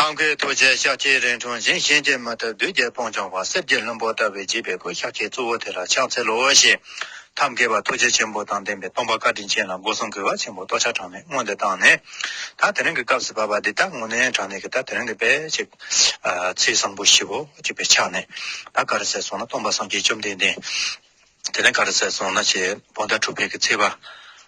ཐང་ཁའི་ཐུགས་རྗེའི་ཤགས་ཀྱི་རིང་ཐུང་འཛིན་གཤེན་གྱི་མ་ཐབས་བདུད་རྒྱལ་སྤོང་བྱང་བ་གསེར་གྱི་བློན་པོ་ལྟ་བུའི་བརྗིད་པའི་སྐུ་ཤགས་ཀྱི་གཙོ་བོ་དེ་ལ་ཕྱག་འཚལ་ལོ་ཞེས་ཐབས་མཁས་པ་ཐུགས་རྗེ་ཆེན་པོ་དང་ལྡན་པའི་སྟོང་པ་བཀའ་དྲིན་ཅན་ལ་སྒོ་སྲུང་གུས་པ་ཆེན་པོ་ལྟོ་ཆ་གྲངས་མེད་སྔོན་དུ་བཏང་ནས། ད་དེ་རིང་གི་སྐབས་སུ་བབ་པ་འདི་དག་ངོ་ནའི་གྲངས་ནས་ཀྱི་ད་དེ་རིང་གི་དཔལ་གཅིག། ཚེས་བཟང་པོ་བཞི་བོ་གཅིག་པའི་ཆ་ནས། ད་ག་རེ་ཟེར་སོང་ན་སྟོང་པ་སངས་རྒྱས་བཅོམ་ལྡན་འདས། དེ་ནས་གར་ཟས་སོང་ན་བྱེད་པོ་ཟླ་དྲུག་པའི་གི་ཚེས་པ།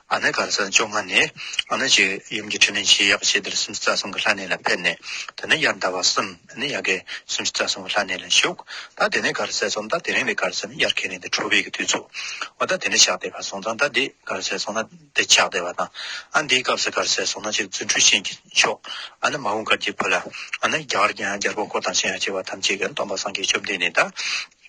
ཨ་ནེ་གར་ཟས་བཅོ་ལྔ་ནས་ཨ་ནེ་ཅིག་ཡུམ་གྱི་ཁྲི་ནས་བྱེད་ཡག་བྱེད་དེར་སུམ་ཅུ་རྩ་གསུམ་གྱི་ལྷ་གནས་ལ་ཕེབས་ནས་དེ་ནས་དབྱར་ཟླ་བ་གསུམ་ནས་ཡ་གའི་སུམ་ཅུ་རྩ་གསུམ་གྱི་ལྷ་གནས་ལ་བཞུགས། ད་དེ་ནས་གར་ཟས་སོང་ད་དེ་རིང་ལས་གར་ཟས་ནི་དབྱར་ཁས་ལེན་ཏེ་དྲུག་པའི་གི་དུས་ཚུགས། འོ་ད་དེ་ནས་ཕྱག་བདེ་བ་སོང་ཙང་ད་འདི་གར་ཟས་སོང་ན་འདི་ཕྱག་བདེ་བ་དང། ཨ་འདིའི་སྐབས་སུ་གར་ཟས་སོང་ན་བྱེད་རྫུ་འཕྲུལ་ཤེས་ཀྱི་མཆོག། ཨ་ནི་མ་འོངས་གར་གྱི་བུ་ལ། ཨ་ནི་རྒྱ་གར་གྱི་ཡང་རྒྱལ་པོ་འཁོར་དང་གཤེན་ཡང་བྱེ་བ་ཐམས་ཅད་ཀྱི་སྡོམ་པ་སངས་རྒྱས་བཅོམ་ལྡན་འདས་དང།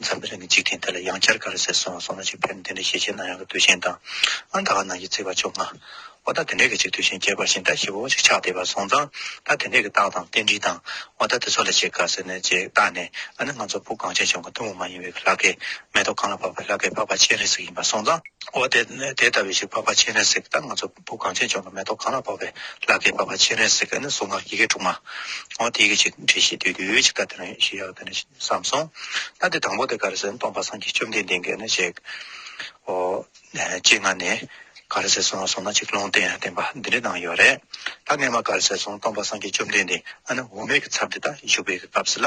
འཇམ་དཔལ་ནི་འཇིག་རྟེན་འདི་ལ་ཡང་བསྐྱར་ག་རེ་ཟེར་སོང་བ་སོང་ན་ཅིག་ཕེབས་ནས་དེ་འདྲའི་ཞེ་ཆེན་ནང་ཡང་གི་དུས་ཆེན་དང། ཨང་གྲངས་ནང་གི་རྩིས་པ་བཅོ་ལྔ། འོ་ད་དེ་འདྲའི་གི་ཅིག་དུས་ཆེན་རྒྱས་པར་བཞིན་ད་ཞི་བོ་ཅིག་ཕྱག་བདེ་བར་སོང་ཙང་ད་དེ་འདྲའི་གི་རྟགས་དང་རྟེན་འབྲེལ་དང། འོ་ད་དེ་ཚོ་ལ་ཅིག་ག་ཟེར་ནས་ཅིག་བརྟགས་ནས་ཨ་ནི་ང་ཚོ་བུ་གངས་ཅན་ལྗོངས་ཀྱི་གཏུམ་མོ་མ་ཡིན་བའི་གི་ལྷ་སྐལ། མེ་ཏོག་གང་ལ་འཕགས་པའི་ལྷ་སྐལ་འཕགས་པ་སྤྱན་རས་གཟིགས་ཡིན་པར་སོང་ཙང། འོ་དེ་ལྟ་བུའི་ཞིག་འཕགས་པ་སྤྱན་རས་གཟིགས་ད་ང་ཚོ། བུ་གང་བྱེད་ཅོག་ལ་མེ་ཏོག་གང་ལ་བབ་པའི་ལ་ཁའི་བབ་པ་ཕྱི་རས་གཟིགས་ཀ་ནི་གཟུངས་སྔགས་ཡི་གེ་དྲུག་མ། འོ་དེའི་གི་ཅིག་འབྲི་ཤིག་དུས་དུས་ཀྱི་སྐབས་དེ་རིང་ཞེས་ཡོད་ནས་བསམས་སོང། ལྷ་དེ་དང་པོ་དེ་ག་རེ་ཟེར་སྟོང་པ་སངས་རྒྱས་བཅོམ་ལྡན་འདས་འགས་ནི་ཅིག། འོ། ཅིག་སྔ་ནས་ག་རེ་ཟེར་སོང་ང་སོང་ན་ཅིག་ལུང་བསྟན་བསྟན་པ་འདི་འདྲའི་ནང་ཡོད་རེད། ལྷ་སྔས་མ་ག་རེ་ཟེར་སོང་སྟོང་པ་སངས་རྒྱས་བཅོམ་ལྡན་འདས་ཨ་ནི་འོ་མས་གི་ཚབ་འདི་ད་བཞུགས་པའི་གི་སྐབས་སུ་ལ།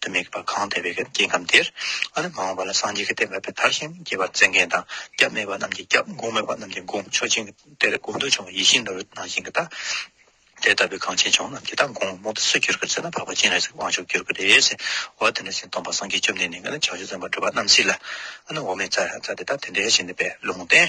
དུ་མེད་པར་གང་བལྟས་པའི་སྐྱེ་ཁམས་དེར། ཨ་རི་མ་འོངས་པ་ལ་སངས་རྒྱས་ཀྱི་བསྟན་པ་དཔེ་དར་བཞིན་རྒྱས་པར་བརྩེ་མཁན་དང་སྐྱབས་མེད་པ་རྣམས་ཀྱིས་སྐྱབས་འགོང་མེད་པ་རྣམས་ཀྱིས་འགོང་མཆོག་སྦྱིན་གྱི་དེར་དགོངས་འདུས་བྱུང་བ་ཡིད་བཞིན་ནོར་བུ་ནང་བཞིན་གྱི་རྟགས། དེ་ལྟ་བུའི་གངས་ཆེན་ལྗོངས་རྣམས་ཀྱི་རྟགས་འགོང་བ་མུ་ཏིག་སུ་གྱུར་གྱི་ཚེ་ན་འཕགས་པ་སྤྱན་རས་གཟིགས་དབང་ཕྱུག་གྱུར་གྱི་རེད་ཟེར། འོ་དེ་འདྲ་ཞིག་སྟོང་པ་སངས་རྒྱས་བཅོམ་ལྡན་འདས་ཀྱིས་ནི་བྱང་ཆུབ་སེམས་དཔའ་སྒྲུབ་པ་རྣམས་སྲིད་ལ། ཨ་ནུ་འོ་མས་བཙའ་བཙའ་དེ་དག་དེ་འདྲའི་ཞིང་འདི་པའི་ལུང་བསྟན།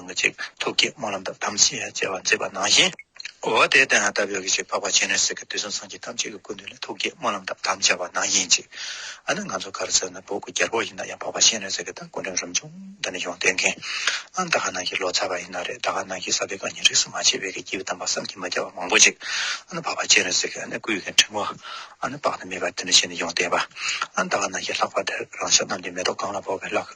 མི་གཅིག་ཐུགས་བསྐྱེད་སྨོན་ལམ་དང་དམ་ཚིག་ཡང་བཅས་པ་མཛད་པ་ནང་བཞིན། འོ་དེ་ལྟ་ན་ད་བོད་ཀྱི་ཆོས་འཕགས་པ་ཆེན་རིང་བསྲེལ་གྱི་དུས་གསུམ་སངས་རྒྱས་ཐམས་ཅད་ཀྱི་སྐུ་མདུན་ལ་ཐུགས་བསྐྱེད་སྨོན་ལམ་དང་དམ་བཅའ་བ་ནང་བཞིན་ཅིག། ཨ་ནི་ང་ཚོ་གར་སོང་ན་བོད་ཀྱི་རྒྱལ་པོ་ཡིན་ན་ཡང་འཕགས་པ་ཆེན་རིང་བསྲེལ་གྱི་ད་སྐུ་མདུན་རིམ་བྱོན་འདི་ནས་ཡོང་བསྟེན་མཁན་ཨ་ནི་ད་ག་ནང་གི་ལོ་ཙཱ་བ་ཡིན་ན་རེད་ད་ག་ནང་གི་ས་དཔེ་གང་ཉིད་རིགས་སུ་མ་ཆད་བོད་ཀྱི་སྐྱེས་བུ་དམ་པ་བསམ་གྱིས་མ་ཁྱབ་པ་མང་པོ་ཅིག་ཨ་ནི་འཕགས་པ་ཆེན་རིང་བསྲེལ་གྱི་ཨ་ནི་སྐུ་ཡི་གི་འཕྲིན་བུ་ཨ་ནི་དཔག་ཏུ་མེད་པ་འདི་ནས་བྱས་ནས་ཡོང་བསྟེན་པ་ཨ་ནི་ད་ག་ནང་གི་ལྷག་པ་འདིར་རང་ཤག་རྣམས་ཀྱི་མེ་ཏོག་གང་ལ་བོར་བའི་བླ་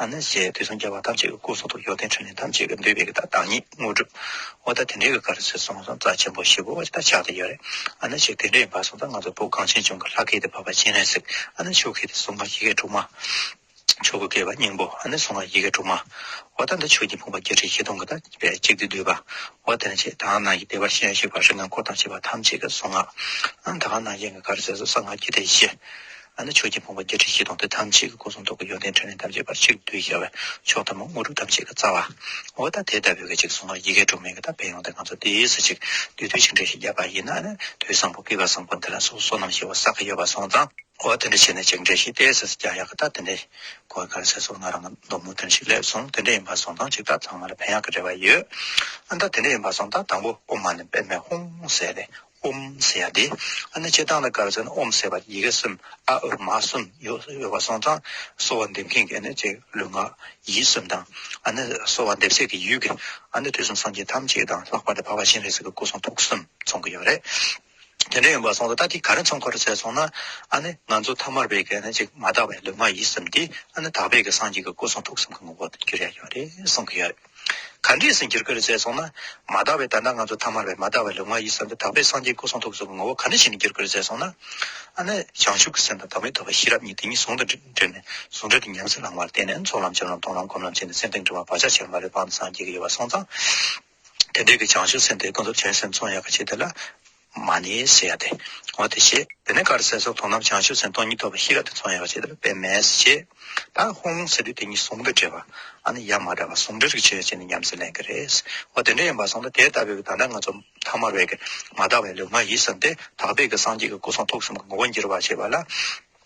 ཨ་ནི་ཞེས་དུས་སམ་སྐྱེ་བ་ཐམས་ཅད་ཀྱི་སྐུ་གསུང་ཐུགས་ཡོན་ཏན་ཕྲིན་ལས་ཐམས་ཅད་ཀྱི་འདུས་པའི་བདག་བདག་ཉིད་དངོས་གྲུབ། འོ་ད་དེ་འདྲའི་ག་རེ་ཟེར་གསུངས་སོང་རྩ་ཆེན་པོ་ཞེས་བོ་བ་ཅིག་ད་ཆགས་ཏེ་ཡོད་རེད། ཨ་ནི་ཞེས་དེ་འདྲ་ཡིན་པ་གསུངས་ད་ང་ཚོ་བོད་གངས་ཅན་ལྗོངས་ཀྱི་ལྷ་སྐལ་དེ་བབས་པ་ཅན་རེད་ཟེར་གི་ཨ་ནི་ཆོས་སྐལ་དེ་གསུང་ངག་ཡི་གེ་དྲུག་མ། ཆོས་སྐུ་སྐལ་བ་སྙིང་པོ་ཨ་ནི་གསུང་ངག་ཡི་གེ་དྲུག་མ། འོ་ད་འདི་ཆོས་ཀྱི་ཕུང་པོ་བརྒྱད་ཁྲི་བཞི་སྟོང་གི་ད་བས་གཅིག་སྟེ་བསྡུས་པ། འོ་དེ་ནས་ཆད་ད་གང་ན་ཡི་བདེ་བར་གཤེགས་ཤིག་པར་རིགས་ལྔ་འཁོར་དང་བཅས་པ་ཐམས་ཅད་ཀྱི་གསུང་ངག། ཨ་ནི་ད་གང་ན་ཡེངས་ཀྱི་ག་རེ་ཟེར་གསུངས་ས་ངག་རྒྱུད་དེ་བཞི། ཨ་ནི་ཆོས་ཀྱི་དཔུང་པ་བརྒྱད་ཁྲི་བཞི་སྟོང་སྟེ་ཐམས་ཅད་ཀྱི་སྐུ་གསུང་ཐུགས་ཀྱི་ཡོན་ཏན་ཕྲིན་ལས་ཐམས་ཅད་པར་ཆིག་བསྡུས་རྒྱལ་བའི་མཆོག་ཐ་མ་དངོས་གྲུབ་ཐམས་ཅད་ཀྱི་རྩ་བ། འོ་ད་དེ་ལྟ་བུའི་གཅིག་གསུང་ངག་ཡི་གེ་དྲུག་མན་གྱི་དམ་པས་ཡོངས་འདི་ང་ཚོ་འདིའི་སུ་གཅིག་བསྡུས་དུས་ཆིག་འགྲེལ་ཞིག་བརྒྱབ་པ་ཡིན་ན་ཨ་ནི་དུས་བཟང་པོ་སྐུད་པ་བཟང་པོ་འདི་ལ་སོ་སོ་རྣམས་ཞེས་བ་ས་ག་ཡོད་པ་སོང་ཙང། འོ་དེ་འདྲ་བྱས་ནས་ཅིག་འགྲེལ་ཞིག་བལྟས་ཟེར་ས་རྒྱག་ཡག་གི་ད་དེ་འདྲའི་གོ་ག་ལ་ཟེར་སོང་ང་རང་གི་མདོ་མུ་འདིར་ཞིག་སླེབས་སོང་དེ་འདྲ་ཡིན་པ་སོང་ཙང་ཅིག་ད་ཚང་མ་ལ་ཕན་ཡག་གི་རེ་བ་ཡོད་ཨ་ད་དེ་འདྲ་ཡིན་པ་སོང་ད་དང་པོ་དབུ་མ་ནི་པདྨའི་ཧཱུྃ་ཟེར་ཏེ་ཨུམ་ཟེར་ཡ་དེ། ཨ་ནི་སྤྱིར་བཏང་ལ་སྐར་ཚོན་ཨུམ་ཟེར་བར་ཡི་གེ་གསུམ་ཨ་ཨུ་མ་གསུམ་ཡོད་པ་སོང་ཙང་གསོ་བ་འདེབས་མཁན་གྱི་ནི་ཅེས་ལུས་ངག་ཡིད་གསུམ་དང་ཨ་ནི་གསོ་བ་འདེབས་སའི་གི་ཡུལ་གྱི་ཨ་ནི་དུས་གསུམ་སངས་རྒྱས་ཐམས་ཅད་དང་ལྷག་པར་དུ་འཕགས་པ་གཤེན་རིགས་སུ་གི་སྐུ་གསུང་ཐུགས་གསུམ་མཚུངས་ཀྱི་ཡོད་རེད། དེ་འདྲ་ཡིན་པ་སོང་ཙང་ད་དེ་ག་རེ་མཚུངས་ཁོ་རེ་བཙལ་སོང་ན་ཨ་ནི་ང་ཚོ་ཐ་མར་བས་གི་ནི་ཅིག་མ་དག་པའི་ལུས་ངག་ཡིད་གསུམ་དེ་ཨ་ནི་དག་པས་གི་སངས་རྒྱས་ཀྱི་སྐུ་གསུང་ཐུགས་གསུམ་གྱི་ངོ་བོ་དུ་གྱུར་ཡ་ཡོད་རེད་གསུངས་ཀྱི་ཡོད་རེད། ག་འདྲས་སུ་འགྱུར་སྐད་ལ་བྱས་སོང་ན། མ་དག་པའི་ད་ལྟ་ང་ཚོ་ཐ་མར་བའི་མ་དག་པའི་ལུས་ངག་ཡིད་གསུམ་པའི་དག་པའི་སངས་རྒྱས་སྐུ་གསུང་ཐུགས་གསུམ་གྱི་ངོ་བོ་ག་འདྲས་ཤིག་ནས་འགྱུར་སྐད་ལ་བྱས་སོང་ན། ཨ་ནི། བྱང་ཆུབ་ཀྱི་སེམས་དང་དག་མེད་རྡོ་རྗེ་ཤེས་རབ་གཉིས་དེ་གཉིས་ཟུང་དུ་འབྲེལ་ནས་ཟུང་འབྲེལ་གྱི་ཉམས་སུ་བླང་བར་བརྟེན་ནས་ཚོགས་ལམ་སྦྱོར་ལམ་མཐོང་ལམ་སྒོམ་ལམ་བྱས་ནས་སེམས་ཏིང་འགྲོ་བ་བག་ཆགས་ཆེར་མ་ལུས་སྤངས་ཏེ་སངས་རྒྱས་ཀྱི་ཡོལ་བ་སོང་ཙང། དེ་འབྲས་ཀྱི་བྱང་ཆུབ་སེམས་དེ་ཀུན་རྫོབ་ཆེན་སེམས་གསུམ་ཡལ་ག་བྱེད་དེ་ལ། མ་ནི་ཞེས་བྱ་སྟེ། འོ་དེ་ཞེས་དེ་ནས་ཀར་སའི་སོགས་དོང་ནམ་བྱང་ཆུབ་སེམས་སྟོང་ཉིད་རྟོགས་པའི་ཤེས་རབ་དེ་ཚོགས་ཡོད་པ་ཇི་ལྟ་བུ་དཔེ་མེད་ཅེས་ད་ཧོང་ལུང་ཟེར་དུས་དེ་གཉིས་ཟུང་དུ་འབྲེལ་བ་ཨ་ནི་ཡང་མ་འདྲ་བར་ཟུང་འབྲེལ་རིག་བྱེད་ཡོད་ཅེས་ནི་ཉམས་སུ་ལེན་གྱི་རེད། འོ་དེ་འདྲ་ཡིན་པར་སོང་སྟེ་དེ་ལྟ་བུའི་བདག་འདྲ་ང་ཚོ་ཐ་མར་བས་ཀྱི་མ་དག་པའི་ལུས་ངག་ཡིད་བསམ་སྟེ་དག་པས་ཀྱི་སངས་རྒྱས་ཀྱི་སྐུ་གསུང་ཐུགས་གསུམ་གྱི་ངོ་བོ་འགྱུར་བར་བྱེད་པ་ལ།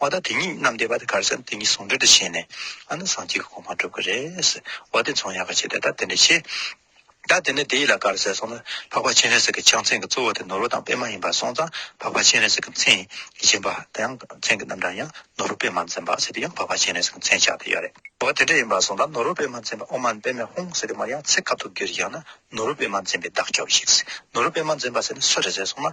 བ་དང་དེ་གཉིས་རྣམས་བསྡེབས་པ་དེ་གར་ཟན་དེ་གཉིས་ཟུང་འབྲེལ་དུ་བྱས་ནས་ཨ་ནུ་སངས་རྒྱས་ཀྱི་གོང་མ་བསྒྲུབ་ཀྱི་རེད། བ་དེ་མཚུངས་ཡག་ག་བྱས་ཏེ་ད་དེ་འདྲ་བྱས། ད་དེ་ནས་དེ་ཡིད་ལ་གར་ཟེར་སོང་ན་འཕགས་པ་སྤྱན་རས་གཟིགས་ཀྱི་ཕྱག་མཚན་གྱི་གཙོ་བོ་དེ་ནོར་བུ་དང་པད་མ་ཡིན་པར་སོང་ཙང་འཕགས་པ་སྤྱན་རས་གཟིགས་ཀྱི་མཚན་གྱི་སྦྱིན་པ་དེ་ཡང་མཚན་གྱི་རྣམ་གྲངས་ཡང་ནོར་བུ་པད་མ་འཛིན་པ་ཟེར་དེ་ཡང་འཕགས་པ་སྤྱན་རས་གཟིགས་ཀྱི་མཚན་ཕྱག་དེ་ཡོད་རེད། བ་དེ་འདྲ་ཡིན་པར་སོང་ཙང་ནོར་བུ་པད་མ་འཛིན་པ་ཨོ་མ་པད་མའི་ཧཱུྃ་ཟེར་དེ་མར་ཡང་ཚེ་ཁ་ཐུག་རྒྱུ་རེ་བཞག་ན་ནོར་བུ་པད་མ་འཛིན་པའི་བདག་སྐྱོབས་ཤིག་ཟེར་ནོར་བུ་པད་མ་འཛིན་པ་ཟེར་ནས་སུ་རེད་ཟེར་སོང་ན་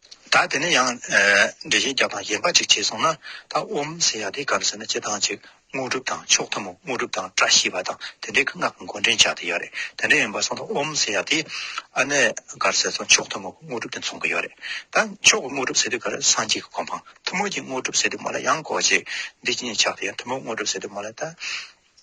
ད་དེ་ནས་ཡང་འགྲེལ་བཤད་རྒྱག་དང་གཞན་པ་ཅིག་བྱས་སོང་ན་ད་ཨོམ་ཟེར་ཡག་དེ་གང་ཟེར་ན་སྤྱི་དང་ཅིག་དངོས་གྲུབ་དང་མཆོག་ཐུན་མོང་དངོས་གྲུབ་དང་བཀྲ་ཤིས་པ་དང་དེ་འདྲའི་གི་སྔགས་ཀྱི་མགོ་འདྲེན་བྱ་དེ་ཡོད་རེད་དེ་འདྲ་ཡིན་པ་སོང་ད་ཨོམ་ཟེར་ཡག་དེ་ཨ་ནེ་གར་ཟེར་སོང་མཆོག་ཐུན་མོང་གི་དངོས་གྲུབ་དེ་མཚུངས་གི་ཡོད་རེད་ད་མཆོག་གི་དངོས་གྲུབ་ཟེར་དུས་གར་སངས་རྒྱས་ཀྱི་གོ་འཕང་ཐུན་མོང་གི་དངོས་གྲུབ་ཟེར་དུས་མོ་ལ་གཡང་སྐོར་ཅིག་འདི་ཅི་ཉེས་ཆགས་དེ་ཡང་ཐུན་མོང་དངོས་གྲུབ་ཟེར་དུས་མོ་ལ་ད།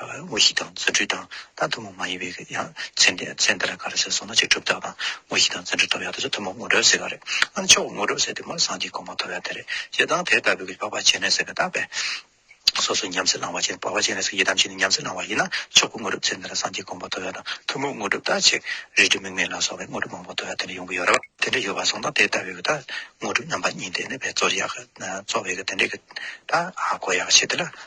དངོས་གཞི་དང་བརྩོན་འགྲུས་དང་ལྟ་ཐུན་མོང་མ་ཡིན་པའི་ཡང་མཚན་དེ་མཚན་དེ་ལ་ག་རེ་ཟེར་སོང་ན་ཅིག་གྲུབ་རྟགས་དང་དངོས་གཞི་དང་བརྩོན་འགྲུས་ཐོབ་ཡག་དེ་ཚོ་ཐུན་མོང་ངོ་སྤྲོད་ཟེར་ག་རེ་ཨ་ནི་ཆོག་ངོ་སྤྲོད་ཟེར་དེ་མོར་སངས་རྒྱས་གོང་མ་ཐོབ་ཡག་དེ་རེད་ཞེ་སྡང་དེ་ལྟ་བུའི་ཕག་པ་བྱེད་ནས་ཟེར་གི་རྟགས་པས་སོ་སོ་ཉམས་སེ་བླང་བ་བྱེད་ཕག་པ་བྱེད་ནས་སོ་ཡི་དམ་བྱེད་ནས་ཉམས་སེ་བླང་བ་ཡིན་ན་ཆོག་གོ་ངོ་སྤྲོད་ཟེར་དེ་ལ་སངས་རྒྱས་གོང་མ་ཐོབ་ཡག་དང་ཐུན་མོང་ངོ་སྤྲོད་རྟགས་ཆེ་རིགས་དྲི་མེད་མེད་ལ་སོགས་པའི་ངོ་སྤྲོད་མང་པོ་ཐོབ་ཡག་དེ་འདྲ་ཡོང་གི་ཡོད་རེད་དེ་འདྲ་ཡོད་པ་སོང་ད་དེ་ལྟ་བུའི་གི་རྟགས་ངོ་སྤྲོད་རྣམ་པ་གཉིས་དེ་ནས་བས་གཙོར་ཡག་གི་གཙོ་བའི་གི་དེ་འདྲའི་གི་རྟགས་ཨ་གོ་ཡག་བྱེད་དེ་ལ།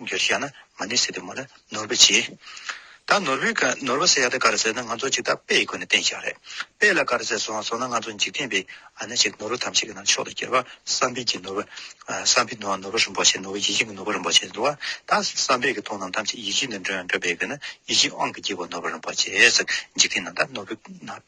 རྒྱུ་ཞིག་ཡང་ན་མ་ནི་སི་ཏུ་མོ་ལ་ནོར་བུ་ཆེ། ད་ནོར་བུའི་གར་ནོར་བུ་སེ་ཡ་ཏི་གར་ཟེར་ན་ང་ཚོ་ཅིག་ད་དཔེ་ཡི་སྒོ་ནས་བསྟན་བཞག་རེད་དཔེ་ལ་གར་ཟེར་སོང་སོང་ན་ང་ཚོ་འཇིག་རྟེན་པའི་ཨ་ན་ཅིག་ནོར་བུ་ཐམས་ཅད་ཀྱི་ནང་ཕྱོགས་ལ་གྱེར་བ་བསམ་འཕེལ་གྱི་ནོར་བུ། བསམ་འཕེལ་ནོར་ནོར་བུ་རིན་པོ་ཆེ་ནོར་བུ་ཡིད་བཞིན་གྱི་ནོར་བུ་རིན་པོ་ཆེ་འདུག་ཨ་ད་བསམ་འཕེལ་གྱི་ཐུགས་རྣམས་ཐམས་ཅད་ཡིད་བཞིན་དུ་འགྲོ་ཡང་འགྲོ་དཔེ་གྱུར་ན་ཡིད་བཞིན་དབང་གི་དཀྱིལ་འཁོར་ནོར་བུ་རིན་པོ་ཆེ་ཟེར་འཇིག་རྟེན་ནང་ད་ནོར་བུའི་ནང།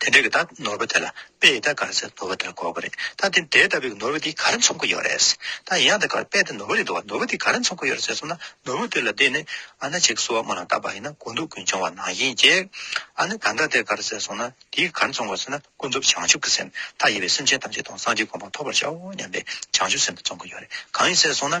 དེ་འདྲའི་གི་ད་ནོར་བ་དེ་ལ་དཔེ་ཡི་ད་གར་ཟེར་ནོར་བ་དེ་ལ་གོ་དགོས་རེད་ད་དེ་འདྲའི་ལྟ་བའི་གི་ནོར་བ་དེ་ག་རེ་འཚོང་གི་ཡོད་རེད་ད་ཡིན་ཡང་ད་གར་དཔེ་དེ་ནོར་བ་རེད་འདུག་ནོར་བ་དེ་ག་རེ་འཚོང་གི་ཡོད་རེད་ཟེར་སོང་ན་ནོར་བུ་དེ་ལ་དེ་ནི་ཨ་ན་ཅིག་གསོལ་བ་མོ་ལ་བཏབ་པ་ཡིན་ན་དགུ་འདུག་ཀུན་འབྱུང་བ་ནང་བཞིན་གྱིས་ཨ་ནི་ད་ལྟ་དེ་གར་ཟེར་སོང་ན་དེའི་ག་རེ་འཚོང་དགོས་ཟེར་ན་ཀུན་རྫོབ་བྱང་ཆུབ་ཀྱི་སེམས་མཐའ་ཡས་པའི་སེམས་ཅན་ཐམས་ཅད་དང་སངས་རྒྱས་དགོངས་པ་ཐོབ་པར་བྱའོ་སྙམ་པའི་བྱང་ཆུབ་སེམས་དེ་འཚོང་གི་ཡོད་རེད་གང་ཡིན་ཟེར་སོང་ན།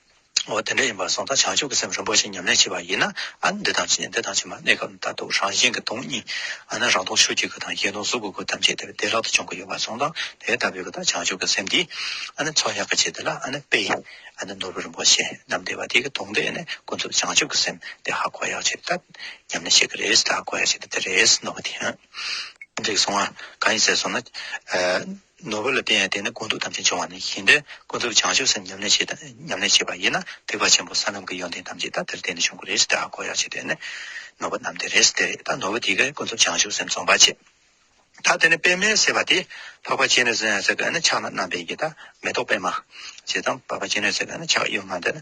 འོ་དེ་འདྲ་ཡིན་པར་སོང་ད་བྱང་ཆུབ་ཀྱི་སེམས་རིན་པོ་ཆེ་ཉམས་ལེན་བྱེད་པ་ཡིན་ན་ཨ་ནི་འདི་དང་ཕྱི་འདི་དང་ཕྱི་མ་གནས་སྐབས་མཐར་ཐུག་རང་བཞིན་གྱི་སྟོང་ཉིད་ཨ་ནི་རང་སྟོང་ཆོས་ཀྱི་སྐུ་དང་གཞན་སྟོང་གཟུགས་ཀྱི་སྐུ་ཐམས་ཅད་དེ་བདེ་བླག་ཏུ་བྱུང་གི་ཡོད་པར་སོང་ད་དེ་ལྟ་བུའི་ད་བྱང་ཆུབ་ཀྱི་སེམས་འདི་ཨ་ནི་ཚོགས་གཉའ་ཁ་བྱས་འདི་ལ་ཨ་ནི་དཔེ་ཨ་ནི་ནོར་བུ་རིན་པོ་ཆེ་རྣམས་བདེ་བ་དེ་གི་དོང་དེ་ནི་ཀུན་རྫོབ་བྱང་ཆུབ་ཀྱི་སེམས་དེ་ཧ་གོ་ཡག་བྱེད་ད་ཉམས་ལེན་བྱེད་ཀྱི་རེད་ད་གོ་ཡག་བྱེད་ད་དེ་རེད་ནོར་བུ་དེའང་འགྲིག་སོང་ཨ་གང་ཡིན་ཟེར་སོང་ན། ནོར་བུ་ལ་བརྟེན་ཡང་དེ་ནི་ཀུན་རྫོབ་ཐམས་ཅད་འབྱུང་བ་ནི་བཞིན་དུ་ཀུན་རྫོབ་བྱང་ཆུབ་སེམས་ཉམས་ལེན་བྱེད་དང་ཉམས་ལེན་བྱེད་པ་ཡིན་ན་ཐེག་པ་ཆེན་པོ་ས་ལམ་གྱི་ཡོན་ཏན་ཐམས་ཅད་ད་དེར་བརྟེན་ནས་བྱུང་གི་རེད་ཟེར་ཏེ་ཨ་ཁོ་ཡར་བྱེད་དེ་ནི་ནོར་བུ་རྣམས་དེ་རེད་ཟེར་དེ་རེད་ད་ནོར་བུ་དེ་གས་ཀུན་རྫོབ་བྱང་ཆུབ་སེམས་རྩོམ་པར་བྱེད། ད་དེ་ནི་པདྨའི་སྲེད་པ་དེས་འཕགས་པ་ཅི་ནུས་ཟེར་ཡང་ཟེར་གི་ཨ་ནི་ཕྱག་ན་བསྣམས་པའི་ཡི་དྭགས་མེ་ཏོག་པདྨ། ཞེས་དང་འཕགས་པ་ཅི་ནུས་ཟེར་གི་ཨ་ནི་ཕྱག་གཡོན་མ་འདི་ནི་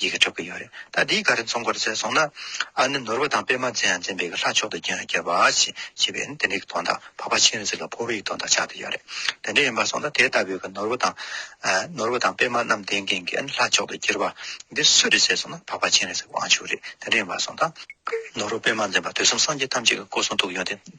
ཡི་གེ་འཁྲབ་ཀྱི་ཡོད་རེད་ད་དེའི་ག་རེ་འཚོང་ག་རེ་བྱས་སོང་ན། ཨ་ནི་ནོར་བུ་དང་པད་མ་བཙན་ཡང་བཙན་པའི་གི་ལྷ་མཆོག་ཏུ་རྒྱན་རྒྱལ་བ་ཞེས་བྱས་པས་ནི་དེ་འདྲའི་གི་དོན་དག་འཕགས་པ་ཆེན་རིགས་གཟིགས་ལ་ཕུར་བུ་ཡི་དོན་དག་ཆགས་ཏེ་ཡོད་རེད་དེ་འདྲ་ཡིན་པར་སོང་ན་དེ་ལྟ་བུའི་གི་ནོར་བུ་དང། ནོར་བུ་དང་པད་མ་རྣམས་ལྡན་མཁན་གི་ཨ་ནི་ལྷ་མཆོག་ཏུ་གྱུར་པ་འདི་སུས་རེ་བྱས་སོང་ན་འཕགས་པ་ཆེན་རིགས་གཟིགས་པའང་བྱུང་རེད་དེ་འདྲ་ཡིན་པར་སོང་ད། ནོར་བུ་པད་མ་འཛིན་པ་དུས་གསུམ་སངས་རྒྱས་ཐམས་ཅད་ཀྱི་སྐུ་གསུང་ཐུགས་ཡོན་ཏན།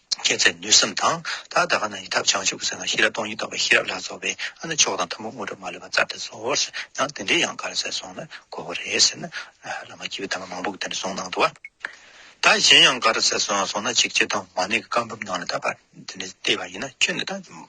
སྐྱེད་ཚལ་ནུས་གསུམ་དང། ད་ད་ག་ན་ཡི་ཐབས་བྱང་ཆུབ་ཟེར་ན་ཤེས་རབ་སྟོང་ཉིད་རྟོགས་པའི་ཤེས་རབ་ལ་སོགས་པས་ཨ་ནི་མཆོག་དང་ཐུན་མོང་དངོས་གྲུབ་མ་ལུས་པ་རྩལ་དེ་བཟོ་འོ་ཟེར་ན་དེ་འདྲའི་ཡང་ག་ལ་ཟེར་སོང་ན་གོ་བོ་རེད་ཟེར་ན། བླ་མ་སྐྱེས་བུའི་དམ་པ་མང་པོ་དེ་འདྲ་གསུངས་ནང་དུ་བ། ད་གཞན་ཡང་ག་ར་ཟེར་སོང་སོང་ན་ཆིག་བརྒྱ་དང་མ་ནི་ག་འབུམ་ནང་ལ་ད་བར་དེ་འདྲ་བལྟས་པ་ཡིན་ན་ཁྱོད་ནི་ད།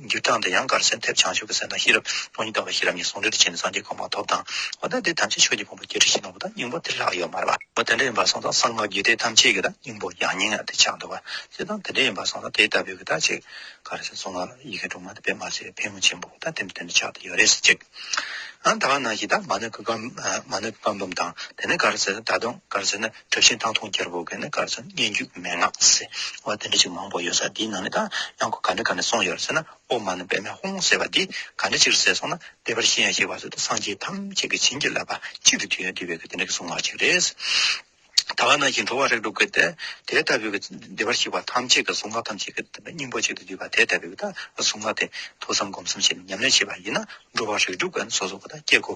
འགྱུར་དང་དེ་ཡང་གར་སེམས་ཐེབས་བྱང་ཆུབ་ཀྱི་སེམས་དང་ཤེས་རབ་སྟོང་ཉིད་དགའ་བའི་ཤེས་རབ་གཉིས་ཟུང་འབྲེལ་དུ་བྱས་ནས་སངས་རྒྱས་གང་མ་ཐོབ་དང། འོ་ན་དེ་ཐམས་ཅད་ཆོས་ཀྱི་ཕུང་པོ་སྐྱེ་འཆི་ཞེས་གནང་བ་དང་སྙིང་པོ་དེ་ལྷག་ཡོད་མ་རེད་པ། འོ་དེ་འདྲ་ཡིན་པར་སོང་ཙང་གསང་སྔགས་རྒྱུད་སྡེ་ཐམས་ཅད་ཀྱི་དང་སྙིང་པོ་ཡང་སྙིང་ཡང་དེ་ཆགས་འདུག་པ། སྤྱིར་བཏང་དེ་འདྲ་ཡིན་པར་སོང་ཙང་དེ་ལྟ་བུའི་གི་དག་ཅིག་གར་སེམས་གསུང་ངག་ཡི་གེ་དྲུག་མ་དེ་དཔེ་མ་བྱས་པའི་ཕན་ངོ་ཆེན་པོ་དང་དེ་འདྲ་དེ་འདྲ་ཆགས་དེ་ཡོད་རེད་ཟེར་ཅིག། ཨང། ད་ག་ནང་བཞིན་དང་མ་ནི་གི་གང་མ་ནི་གི་གང་འབུམ་དང་དེ་ནི་གར་སེམས་ད་དུང་གར་སེམས་ནི་དྲི་ཞིམ་སྟག་འཐུང་སྐྱེར་པོ་གི་ནི་སྐར་ཚོད་ལྔས་མཇུག་གི་མན་ངག་ཟེར་བ་དེ་འདྲ་ཞིག་མང་པོ་ཡོད་ས་དེའི་ནང་ནས་ད་ཡང་གོ་ག་འདྲ་ག་ནས་སོང་ཡོད་ཟེར་ན་ཨོ་མ་ནི་པད་མའི་ཧོང་ཟེར་བ་དེ་ག་འདྲ་ཅིག་རེད་ཟེར་སོང་ན་དེ་པར་ཤེས་ཡང་ཤེས་པ་ཚོས་ད་སངས་རྒྱས་ཐམས་ཅད་ཀྱི་བྱིན་གྱིས་བརླབས་པ་གཅིག་གི་དུས་ཡུན་དེ་བས་ཀྱི་དེ་འདྲ་གི་གཟུངས་སྔགས་ཅིག་རེད། ད་ག་ནང་བཞིན་འགྲོ་བ་རིགས་དྲུག་གི་དེ་དེ་ལྟ་བུའི་ཀྱི་བདེ་བར་གཤེགས་པ་ཐམས་ཅད་ཀྱི་གཟུངས་སྔགས་ཐམས་ཅད་ཀྱི་སྙིང་པོ་གཅིག་ཏུ་བསྡུས་པ་དེ་ལྟ་བུའི་ཀྱི་ད་གཟུངས་སྔགས་དེ་ཐོས་བསམ་སྒོམ་གསུམ་བྱས་ནས་ཉམས་ལེན་བྱས་པ་ཡིན་ན་འགྲོ་བ་རིགས་དྲུག་གི་ནི་སོ་སོ་ཀྱི་ད་སྐྱེ་དགུ་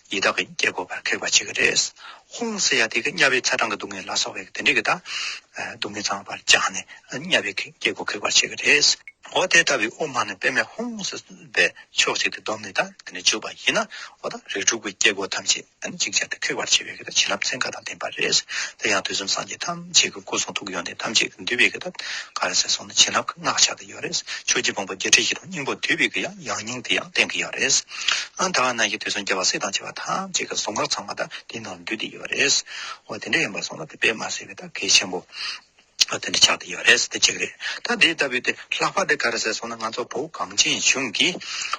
ཡི་དྭགས་ཀྱི་སྐྱེ་དགོས་པར་ཁེགས་པ་བྱེད་ཀྱི་རེད། ཧོང་སི་ཡ་ཏི་གིས་གཉའ་བའི་ཚ་གྲང་གི་སྡུག་བསྔལ་ལ་སོགས་པའི་དེ་འདྲའི་གི་དང་སྡུག་བསྔལ་ཚང་བར་བཅངས་ནས་གཉའ་བའི་སྐྱེ་དགོས་ཁེགས་པར་བྱེད་ཀྱི་རེད། འོ་དེ་ལྟ་བུའི་དབུ་མ་ནི་དཔེ་མེད་ཧོང་སི་པའི་ཕྱོགས་གཅིག་ཏུ་བསྡོམས་ནས་དང་དེ་ནས་བརྗོད་པ་ཡིན་ན་འོ་ད་རིགས་དྲུག་གི་སྐྱེ་དགོས་ཐམས་ཅད་ནི་ཅིག་ཅར་དུ་ཁེགས་པར་བྱེད་པའི་གི་དང་བྱིན་རླབས་ཚན་ཁ་དང་ལྡན་པ་རེད། དེ་ཡང་དུས་གསུམ་སངས་རྒྱས་ཐམས་ཅད་ཀྱི་སྐུ་གསུང་ཐུགས་ཡོན་ཏན་ཐམས་ཅད་ཀྱི་འདུས་པའི་གི་དང་ག་རེ་ཟེར་སོང་ནི་བྱིན་རླབས་ཀྱི་སྔགས་ཕྱག་གི། ཡང་རེད། ཆོས་རྗེ་དགོངས་པ་བརྒྱད་ཁྲི་བཞི་སྟོང་སྙིང་པོ་བསྡུས་པའི་གི་ཡང་ཡང་སྙིང་དེ་ཡང་གཏན་གི་ཡང་རེད། ཨང་དང་ནང་གི་དུས་གསུམ་རྒྱལ་བ་སྲས་དང་བྱེ་བ་ཐམས་ཅད་ཀྱི་གཟུངས་སྔགས་ཚང་མ་དག་དེའི་ནང་འདུས་ཏེ་ཡོད་པ་རེད། འོ་དེ་འདྲ་ཡིན་པར་སོང་ན་དེ་པད་མ་ཟེར་བའི་ད་གེ་ཆེན་པོ། འོ་དེ་འདྲ་ཆགས་ཏེ་ཡོད་རེད་དེ་གཅིག་རེད། ད་དེ་ལྟ་བུའི་དེ་ལྷག་པ་དེ་ག་རེ་ཟེར་སོང་ན་ང་ཚོ་བུ་གངས་ཅན་ལྗོངས་ཀྱི།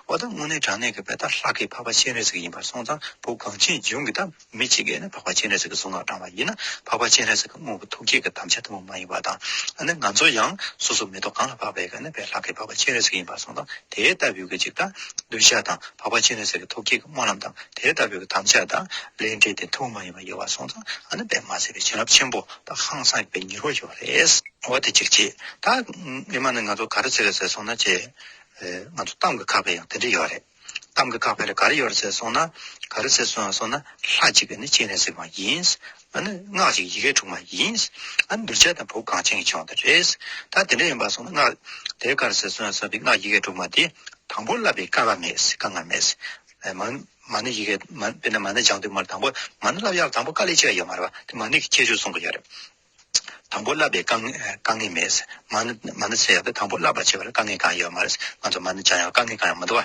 འོ་ད་དངོས་གནས་དྲང་གནས་ཀྱི་བས་ད་ལྷག་གི་འཕགས་པ་སྤྱན་རས་གཟིགས་ཡིན་པར་སོང་ཙང་བུ་གངས་ཅན་ལྗོངས་ཀྱི་ད། མི་གཅིག་གིས་ནི་འཕགས་པ་སྤྱན་རས་གཟིགས་ཀྱི་གཟུངས་སྔགས་བགྲང་བ་ཡིན་ན་འཕགས་པ་སྤྱན་རས་གཟིགས་ཀྱི་དངོས་པོ་ཐུགས་བསྐྱེད་ཀྱི་དམ་བཅའ་ལྟ་བུ་མ་ཡིན་པ་དང། ང་ཚོ་ཡང་སོ་སོ་མེ་ཏོག་གང་ལ་འཕགས་པའི་གནས་པའི་ལྷ་སྐལ་འཕགས་པ་སྤྱན་རས་གཟིགས་ཡིན་པར་གསུངས་དང་དེའི་ལྟ་བུའི་གྱི་ཅིག་དང། གདུལ་བྱ་དང་འཕགས་པ་སྤྱན་རས་གཟིགས་ཀྱི་ཐུགས་བསྐྱེད་ཀྱི་སྨོན་ལམ་དང་དེའི་ལྟ་བུའི་གྱི་དམ་བཅའ་དང། ལས་འབྲས་དེ་ཐུགས་མ་ཡིན་པར་ཡོད་པར་གསུངས་དང་ཨ་ནི་པདྨ་སེར་པོའི་བྱིན་རླབས་ཆེན་པོ་དང་ཧང་སངས་པའི་ཉེར་བ་ཡོད་པ་རེད། འོ་དེ་ཅིག་བྱས་ད། ཨེ་མ་ནི་ང་ཚོ་ག་རེ་བྱེད་དགོས་ཟེར་སོང་ན་བྱས། ང་ཚོ་གཏམ་གྱི་ཁ་བས་ཡང་དེ་འདྲ་ཡོད་རེད། གཏམ་གྱི་བཀག་པས་ག་རེ་ཡོད་ཟེར་སོང་ན། ག་རེ་ཟེར་སོང་ཡང་སོང་ན་ལྷ་གཅིག་གིས་ནི་གཅིག་ནས་གཟིགས་པ་ཡིན། སྔགས་གཅིག་ཡི་གེ་དྲུག་མ་ཡིན། འདུལ་བྱེད་དང་བུ་གངས་ཅན་གྱི་ཆོག་འདི་རེད། ད་དེ་འདྲ་ཡིན་པར་སོང་ན་སྔགས་དེ་ག་རེ་ཟེར་སོང་ཡང་སོང་པའི་སྔགས་ཡི་གེ་དྲུག་མ་དེ་དང་པོ་བསླབ་པའི་དཀའ་ངལ་མེད། དཀའ་ངལ་མེད། མ་ཎི་ཡི་གེ་དཔེར་ན་མ་ཎི་སྦྱང་དུས་མ་ལ་དང་པོ་མ་ཎི་བསླབ་ཡག་ལ་དང་པོ་དཀའ་ལས་སྤྱད་ཡོད་མ་རེད་པ་དེ་མ་ཎི་གི་ཁྱད་ཆོས་གསུང་གི་ཡོད་རེད། དང་པོ་བསླབ་པའི་དཀའ་ངལ་མེད། མ་ནི་ཚེ་ཡག་པོ་དང་པོ་བསླབ་པར་བྱེད་པར་དཀའ་ངལ་གང་ཡོད་མ་རེད། ང་ཚོ་མ་ནི་སྦྱང་ཡག་དཀའ་ངལ་གང་ཡང་མི་འདུག་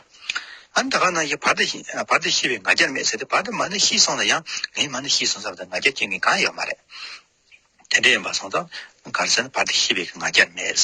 ཨ། ད་ག་ནང་བཞིན་བར་དུ་ཤི་བའི་ང་རྒྱལ་མེད་ཟེར་ཏེ་བར་དུ་མ་ནི་ཤི་སོང་ན་ཡང་ངའི་མ་ནི་ཤི་སོང་ཟེར་བ་དང་ང་རྒྱལ་སྐྱེ་མཁན་གང་ཡང་ཡོད་མ་རེད། དེ་འདྲ་ཡིན་པ་སོང་ཙང་ག་རེ་ཟེར་ན་བར་དུ་ཤི་བའི་ང་རྒྱལ་མེད།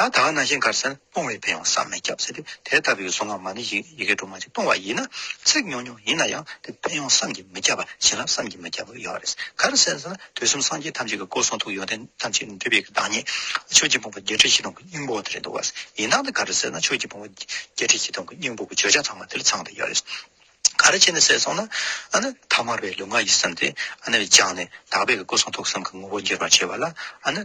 ད་དག་ན་ཞིང་ཁར་སེར་སྤུངས་བས་བལ་བ་བསམ་མི་ཁྱབ་ཟེར་ཏེ་དེ་ལྟ་བུའི་གཟུངས་སྔ་མ་ནི་ཡི་གེ་དྲུག་མ་གཅིག་སྤུངས་བ་ཡིན་ན་ཚིག་ཉུང་ཉུང་ཡིན་ན་ཡང་དེ་བལ་ཡང་བསམ་གྱིས་མི་ཁྱབ་པ་བྱིན་རླབས་བསམ་གྱིས་མི་ཁྱབ་པ་ཡོད་རེད་གར་སེར་ཟེར་ན་དུས་གསུམ་སངས་རྒྱས་ཐམས་ཅད་ཀྱི་སྐུ་གསུང་ཐུགས་ཡོན་ཏན་ཐམས་ཅད་འདུས་པའི་བདག་ཉིད་ཆོས་རྗེ་འབུམ་པ་བརྒྱད་ཁྲི་བཞི་སྟོང་གི་སྙིང་པོ་དེ་རེད་འདུག་བ་ཡིན་ན་ད་གར་སེར་ན་ཆོས་རྗེ་འབུམ་པ་བརྒྱད་ཁྲི་བཞི་སྟོང་གི་སྙིང་པོ་གི་བརྗོད་བྱ་ཚང་མ་དེ་ལ་ཚང་དུ་ཡོད་རེད། གར་བྱེད་ནི་ཟས་སོང་ན། ཐ་མར་བའི་ལུས་ངག་ཡིད་གསུམ་དེ། སྦྱངས་ནས་དག་པའི་སྐུ་གསུང་ཐུགས་གསུམ་གྱི་ངོ་བོ་འགྱུར་བར་བྱེད་པ་ལ།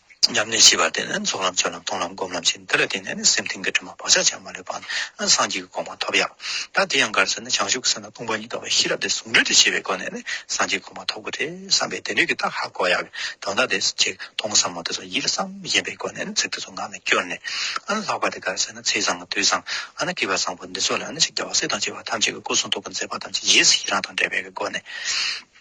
ཉམས་ལེན་བཞི་པ་དེ་ནི་རྫོགས་ལམ་སྤྱོད་ལམ་མཐོང་ལམ་སྒོམ་ལམ་བཞི་འདི་ལ་བརྟེན་ནས་ནི་སེམས་གཏིང་གི་དྲི་མ་བག་ཆགས་ཆགས་མ་ལུས་པ་ནི་སངས་རྒྱས་ཀྱི་དགོངས་པ་ཐོབ་ཡ། ད་དེ་ཡང་གར་ཚེ་ནི་བྱང་ཆུབ་ཀྱི་སེམས་ལ་སྟོང་པ་ཉིད་དགའ་བའི་ཤེས་རབ་དེ་ཟུང་འབྲེལ་དུ་བྱས་པའི་སྒོ་ནས་ནི་སངས་རྒྱས་དགོངས་པ་ཐོབ་དགོས་ཏེ་བསམ་པས་དེ་འབྲེལ་གྱི་རྟགས་ཧ་གོ་ཡ། དོན་དག་དེ་ཆེ་མཐོང་བསམ་མོ་དེ་ཚོ་ཡིད་ལ་བསམ་བཞིན་པའི་སྒོ་ནས་ནི་ཚིག་དེ་ཚོ་ངག་ནས་བསྐྱུར་ནས། ལྷག་པར་དུ་གར་ཚེ་ནི་ཚིག་བཟང་དུས་བཟང་ཨ་ན་སྐྱིད་པ་བཟང་པོ་འདི་ཚོ་ལ་ནི་ཆིག་བརྒྱ་བ་སྲས་དང་བཅས་པ་ཐམས་ཅད་ཀྱི་སྐུ་གསུང་ཐུགས་ཀྱི་མཛད་པ་ཐམས་ཅད་རྗེས་སུ་ཡི་རངས་དང་འབྲེལ་བའི་སྒོ་ནས།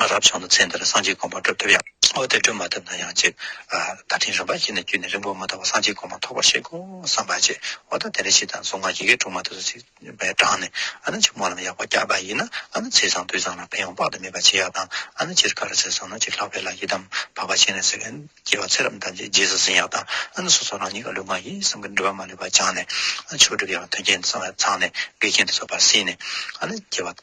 རབ་བྱུང་ན་ཚེ་འདིར་སངས་རྒྱས་དགོངས་པ་སྒྲུབ་ཐུབ་ཡང། འོ་དེ་སྒྲུབ་མ་ཐུབ་ན་ཡང་ཅིག། ད་ཕྲིན་རིམ་པ་བཞི་ནས་བརྒྱུད་ནས་རིང་པོ་མ་ཐག་པར་སངས་རྒྱས་དགོངས་པ་ཐོབ་པར་བྱེད་དགོས་བསམ་པ་བྱས། འོ་ད་དེ་འདྲ་ཞིག་དང་གཟུངས་སྔགས་ཡི་གེ་དྲུག་མ་ཐུབ་ས་ཅིག་པའི་གྲངས་ནས། ཨ་ན་ཕྱི་མོ་ལམ་ཡག་པོ་བསྐྱར་པ་ཡིན་ན་ཨ་ན་ཚེས་བཟང་དུས་བཟང་ལ་ཕན་ཡོང་དཔག་ཏུ་མེད་པ་བྱེད་ཡག་དང་ཨ་ན་སྤྱིར་ཀ་ར་ཚེས་བཟང་ན་ཅིག་ལྷག་པའི་ལ་ཡི་དམ་བག་པ་བྱས་ནས་ཟེར་མཁན་སྐྱེ་བ་ཚེ་རབས་འདམ་བྱེད་རྗེས་སུ་ཟིན་ཡག་དང་ཨ་ན་སོ་སོ་རང་ཉིད་ཀྱི་ལུས་ངག་ཡིད་གསུམ་གྱི་འགྲུལ་པ་མ་ལུས་པ་སྦྱངས་ནས། ཨ་ན་ཆོས་སྒྲུབ་ཡག་དོན་རྐྱེན་ཚང་བས་ཚང་ནས་དགེ་རྒན་དུ་འཚོགས་པར་སྲིད་ནས། ཨ་ན་སྐྱེ་བ།